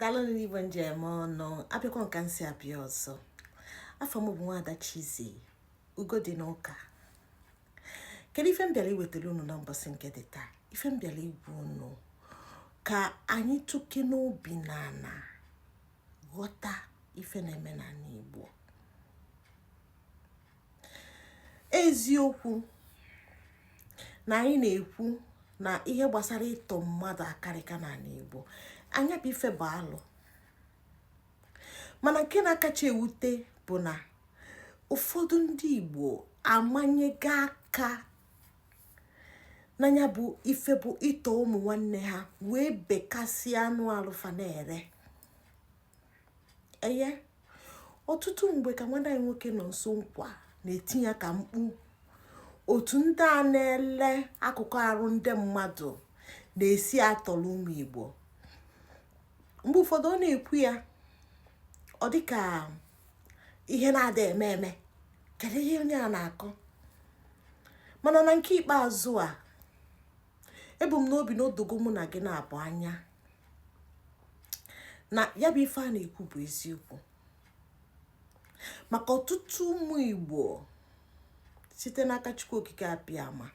daalụ nụ igwe m ji eme ọnụ abịakwa m ka m si abịa ọzọ afa m bụ nwaada Chizzy ugo dị n'ụka kedu ife m bịara iwetara unu na mbọsị nke dị taa ife m bịara ịgwa unu ka anyị tụkene obi n'ana ghọta ife na-eme n'ala Igbo eziokwu na anyị na-ekwu na ihe gbasara ịtọ mmadụ akarịka n'ala Igbo na ya bụ ife bụ alụ mana nke na-akacha ewute bụ na ụfọdụ ndị Igbo amanyego aka na ya bụ ife bụ ịtọ ụmụ nwanne ha wee bekasịa anụ arụ fa na-ere eye ọtụtụ mgbe ka nwanne anyị nwoke Nọnso Nkwa na-eti ya ka mkpu otu ndị a na-ele akụkụ arụ ndị mmadụ na-esi atọrọ ụmụ Igbo mgbe ụfọdụ ọ na-ekwu ya ọ dịka ihe na-ada eme eme kedu ihe onye a na-akọ mana na nke ikpeazụ a ebu m n'obi na o dogo mụ na gị naabọ anya na ya bụ ife a na-ekwu bụ eziokwu maka ọtụtụ ụmụ igbo site n'aka chukwu okike abịama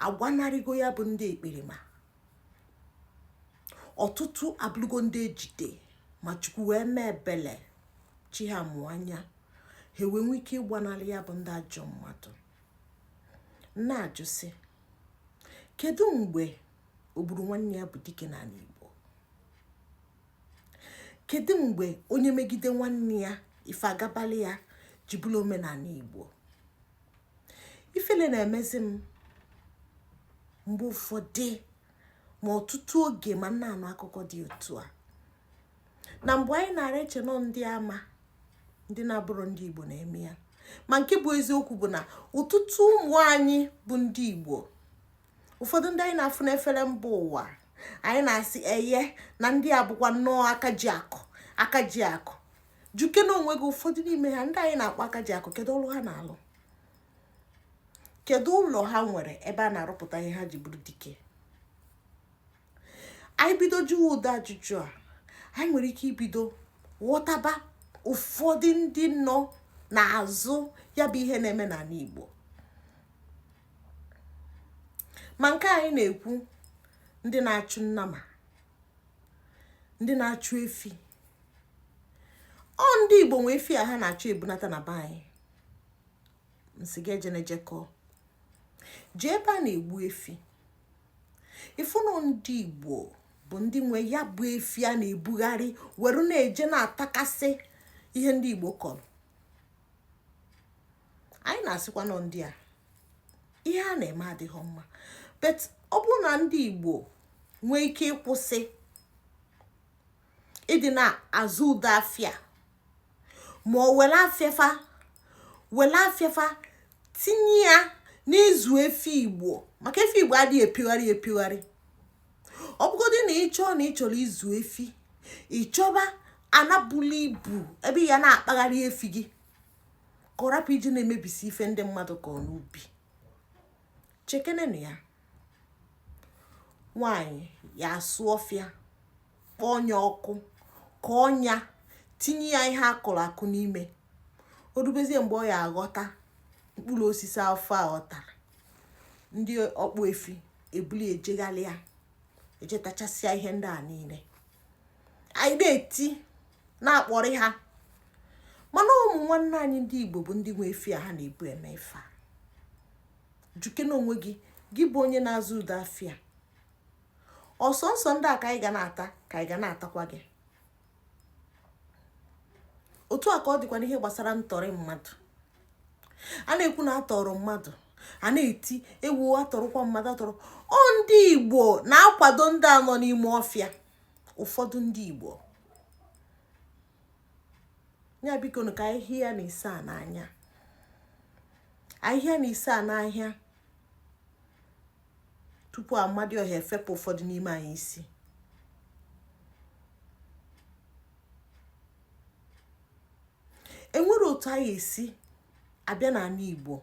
agbanarịgo ya bụ ndị ekperima ọtụtụ abụrụgo ndị ejide ma chukwu wee mee ebele chi ha mụ anya ha wee nwee ike ịgbanarị ya bụ ndị ajọ mmadụ m na-ajụ sị kedu mgbe ogburu nwanne ya bụ dike n'ala Igbo kedu mgbe onye megide nwanne ya ife agabalị ya ji bụrụ omenala Igbo ifele na-emezi m mgbe ụfọdụ ma ọtụtụ oge ma m na-anụ akụkọ dị otu a na mgbe anyị na-ara eche na ọ ndị ama ndị na-abụrọ ndị igbo na-eme ya ma nke bụ eziokwu bụ na ọtụtụ ụmụ anyị bụ ndị igbo ụfọdụ ndị anyị na-afụ n'efere mba ụwa anyị na-asị eye na ndị a bụkwa nnọọ aka ji akụ aka ji akụ jụkene onwe gị ụfọdụ n'ime ha ndị anyị na-akpọ aka ji akụ kedu ọrụ ha na-alụ kedu ụlọ ha nwere ebe a na-arụpụta ihe ha ji bụrụ dike anyị bido jụwa ụdị ajụjụ a anyị nwere ike ibido ghọtaba ụfọdụ ndị nọ n'azụ ya bụ ihe na-eme n'ala Igbo ma nke anyị na-ekwu ndị na-achụ nnama ndị na-achụ efi ọ ndị Igbo nwe efi a ha na-achụ ebunata na be anyị m sị gị eje na-ejekọọ jee ebe a na-egbu efi ịfụnụ ndị igbo bụ ndị nwe ya bụ efi a na-ebugharị were na-eje na-atakasị ihe ndị igbo kọrọ anyị na-asịkwanụ ndị a ihe a na-eme adịghị mma but ọ bụrụ na ndị igbo nwee ike ịkwụsị ịdị na-azụ ụdị afịa ma ọ were afịa fa were afịa fa tinye ya n'ịzụ efi igbo maka efi igbo adịghị epigharị epigharị ọ bụgodị na ị chọọ na ị chọrọ ịzụ efi ị chọba ana bulu ibu ebe ị ya na-akpagharị efi gị ka ọ rapụ iji na-emebisi ife ndị mmadụ kọrọ n'ubi chekenenụ ya nwaanyị ya asụ ọfịa kpọọ ya ọkụ kọọ ya tinye ya ihe akụrụ akụ n'ime o rubezie mgbe ọ ya aghọta mkpụrụ osisi afụ a ghọtara ndị ọkpụ efi ebulu ejegharịa eje tachasịa ihe ndị a niile anyị na-eti na-akpọrị ha mana ụmụ nwanne anyị ndị igbo bụ ndị nwe efi a ha na-ebu eme ife a jụkene onwe gị gị bụ onye na-azụ ụdị afịa ọ sọnsọ ndị a ka anyị ga na-ata ka anyị ga na-atakwa gị otu a ka ọ dịkwa n'ihe gbasara ntọrị mmadụ a na-ekwu na atọrọ mmadụ a na-eti ewu atọrọkwa mmadụ atọrọ ọ ndị igbo na-akwado ndị a nọ n'ime ọfịa ụfọdụ ndị igbo ya biko ka ahịhịa na ise a n'anya ahịhịa na ise a n'ahịa tupu amadioha efepụ ụfọdụ n'ime anyị isi enwere otu anyị esi abịa n'ala igbo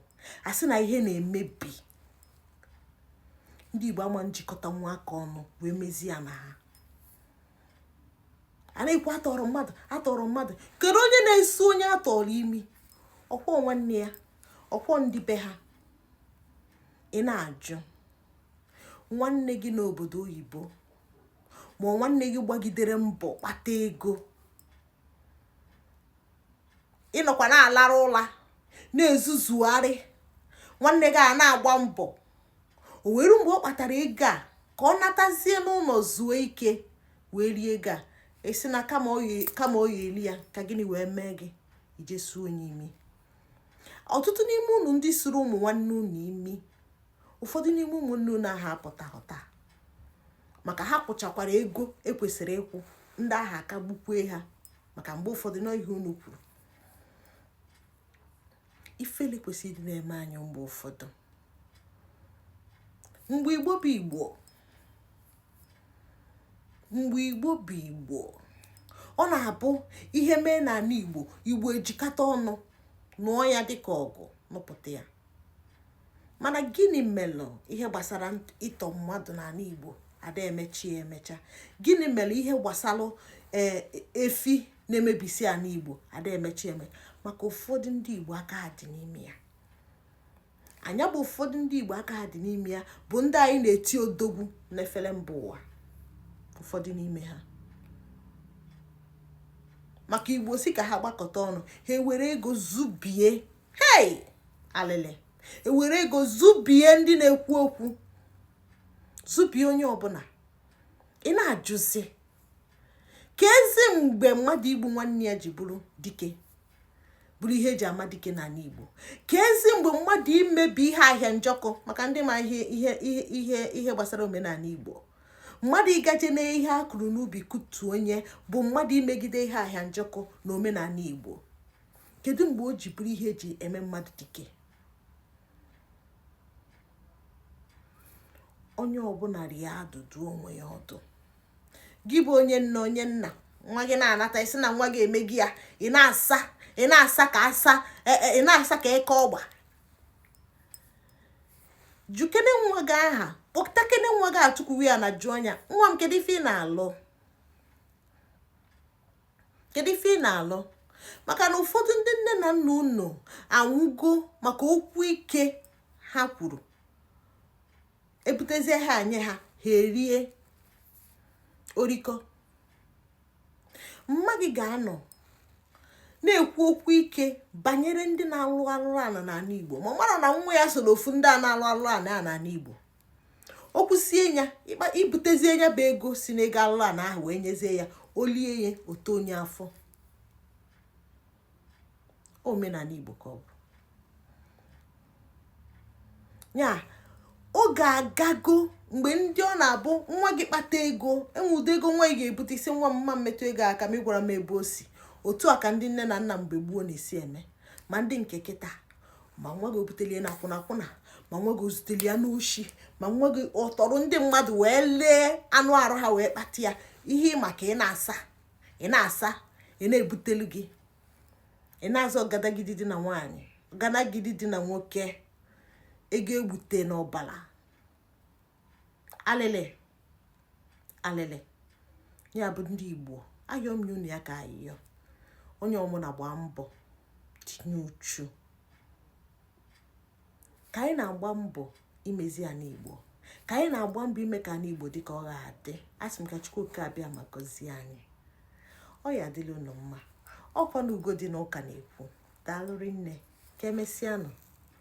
a sị na ihe na-emebi ndị igbo ama njikọtanwu aka ọnụ wee mezie ya na ha a na-ekwu atọrọ mmadụ atọrọ mmadụ kedu onye na-esu onye atọrọ imi ọkwa nwanne ya ọkwa ndị be ha ị na-ajụ nwanne gị n'obodo oyibo ma nwanne gị gbagidere mbọ kpata ego ị nọkwa na-alara ụla na-ezuzugharị nwanne gị a na-agba mbọ o wee ruo mgbe ọ kpatara ego a ka ọ natazie n'ụlọ zuo ike wee rie ego a ị sị na kama ọ ya eri ya ka gịnị wee mee gị i jee suo ya imi ọtụtụ n'ime unu ndị suru ụmụ nwanne unu imi ụfọdụ n'ime ụmụnne unu ahụ apụtaghị taa maka ha kwụchakwara ego ekwesịrị ịkwụ ndị ahụ aka gbukwee ha maka mgbe ụfọdụ na ihe unu kwuru ifele kwesịrị ịdị na-eme anyị mgbe ụfọdụ mgbe igbo bụ igbo mgbe igbo bụ igbo ọ na-abụ ihe mee n'ala igbo igbo ejikọta ọnụ nụọ ya dịka ọgụ nụpụta ya mana gịnị melụ ihe gbasara ịtọ mmadụ n'ala igbo ada emechi emecha gịnị melụ ihe gbasara e, efi na-emebisi ala igbo ada emechi emecha maka ụfọdụ ndị igbo aka dị n'ime ya nya bụ ụfọdụ ndị igbo aka ha dị n'ime ya bụ ndị anyị na-eti odogwu n'efere mba ụwa ụfọdụ n'ime ha maka igbo si ka ha gbakọta ọnụ ha ewere ego zụbie hei alịlị ewere ego zụbie ndị na-ekwu okwu zụbie onye ọbụla ị na-ajụzi kezi mgbe mmadụ igbu nwanne ya ji bụrụ dike bụrụ ihe eji ama dike n'ala Igbo kezi mgbe mmadụ imebi ihe ahịa njọkụ maka ndị ma ihe ihe ihe ihe gbasara omenala Igbo mmadụ ịgaje na ihe a kụrụ n'ubi kutuo nya bụ mmadụ imegide ihe ahịa njọkụ na omenala Igbo kedu mgbe o ji bụrụ ihe eji eme mmadụ dike onye ọbụla rie adụdụ onwe ya ọdụ gị bụ onye nna onye nna nwa gị na-anata ị sị na nwa gị emego ya ị na-asa ị na-asa ka asa e, e, ị na-asa ka eke ọgba jụkene nwa gị ahụ kpọtakene nwa gị a tukwuwe ya ana jụọ nya nwa m kedu ife ị na-alụ kedu ife ị na-alụ maka na ụfọdụ ndị nne na nna unu anwụgo maka okwu ike ha kwuru ebutezie ha nye ha ha erie orikọ mma gị ga-anọ na-ekwu okwu ike banyere ndị na-alụ alụrụ ala n'ala Igbo ma ọ mara na nwa ya soro ofu ndị a na-alụ alụrụ ala n'ala Igbo o kwusie ya ịkpa i butezie ya bụ ego si n'ego alụrụ ala ahụ wee nyezie ya o lie ya o too nya afọ omenala igbo ka ọ bụ ya oge agago mgbe ndị ọ na-abụ nwa gị kpata ego enwe ụdị ego nwa gị ga-ebute ị sị nwa m ama m emetụ ego aka ma ị gwara m ebe o si otu a ka ndị nne na nna mgbe gboo na-esi eme ma ndị nke kịta ma nwa gị o buteli ya na akwụna akwụna ma nwa gị o zuteli ya n'oshi ma nwa gị ọ tọrọ ndị mmadụ wee lee anụ arụ ha wee kpata ya ihe maka ị na-asa ị na-asa ị na-ebutelu gị ị na-azọ ọgadagidi dị na nwaanyị ọgadagidi dị na nwoke ego e gbute n'ọbala alịlị alịlị ya bụ ndị igbo ayọ m unu ya ka ayịyọ onye ọmụna gbaa mbọ tinye uchu ka anyị na-agba mbọ imezi ana igbo ka anyị na-agba mbọ ime ka ana igbo dị ka ọ ga-adị asị m ka chukwu oke abịama gọzie anyị ọ ya-adịlị unu mma ọkwa na ugo dị n'ụka na-ekwu daalụ rinne ka emesịanụ